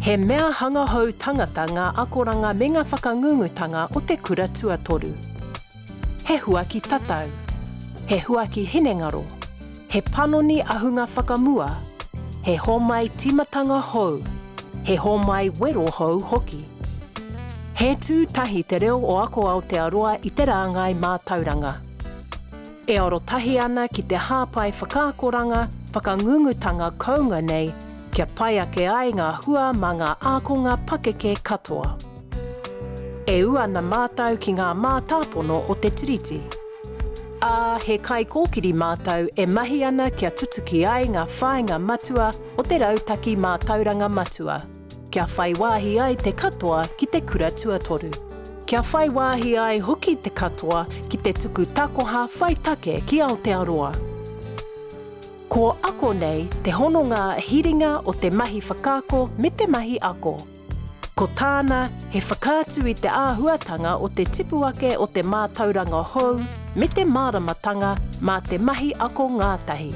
He mea hanga hou tangata ngā akoranga me ngā whakangungutanga o te kura tuatoru. He huaki tatau, he huaki hinengaro, he panoni ahunga whakamua, he homai tīmatanga hou, he homai wero hou hoki. He tū tahi Te Reo o Ako Aotearoa i te rāngai mātauranga. E arotahi ana ki te hāpai whakaakoranga, whakangungutanga kounga nei, kia pai ake ai ngā hua mā ngā ākonga pakeke katoa. E ū ana mātou ki ngā mātāpono o te Tiriti, ā, he kaikōkiri mātou e mahi ana kia tutuki ai ngā whāinga matua o te Rautaki Mātauranga Matua. kia whai wāhi ai te katoa ki te kura tuatoru. Kia whai wāhi ai hoki te katoa ki te tuku takoha whai take ki Aotearoa. Ko ako nei te hononga hiringa o te mahi whakaako me te mahi ako. Ko tāna he whakaatu i te āhuatanga o te tipu ake o te mātauranga hou me te māramatanga mā te mahi ako ngātahi.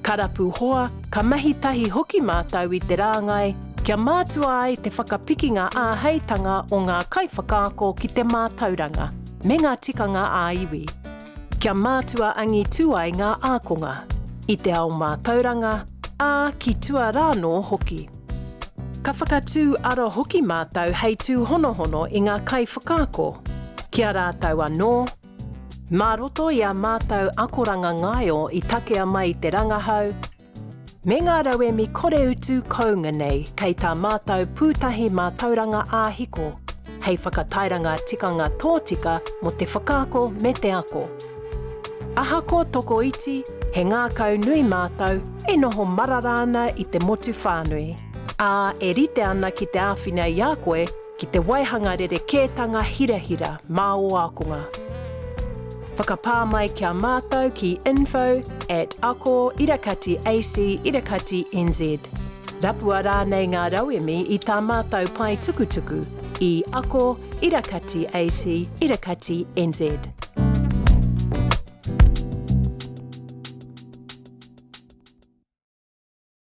Ka rapu hoa, ka mahi tahi hoki mātou i te rāngai kia mātua ai te whakapikinga āheitanga o ngā kaiwhakaako ki te mātauranga me ngā tikanga ā-iwi, kia mātua angitū ai ngā ākonga, i te ao mātauranga, ā, ki tua rānō hoki. Ka whakatū ara hoki mātou hei tūhonohono i ngā kaiwhakaako, ki a rātou anō, Mā roto i ā mātou akoranga ngaio i takea mai te rangahau me ngā rauemi koreutu kounga nei kei tā mātou Pūtahi Mātauranga Ā-Hiko hei whakatairanga tikanga tōtika mō te whakaako me te ako. Ahakoa tokoiti, he ngākau nui mātou e noho marara ana i te motu whānui, ā, e rite ana ki te āwhina i a koe ki te waihanga rerekētanga hirahira mā ō ākonga. Whakapā mai ki a mātou ki info at ako irakati ac irakati nz. Rapua rānei ngā rauemi i tā mātou pae tukutuku i ako irakati ac irakati nz.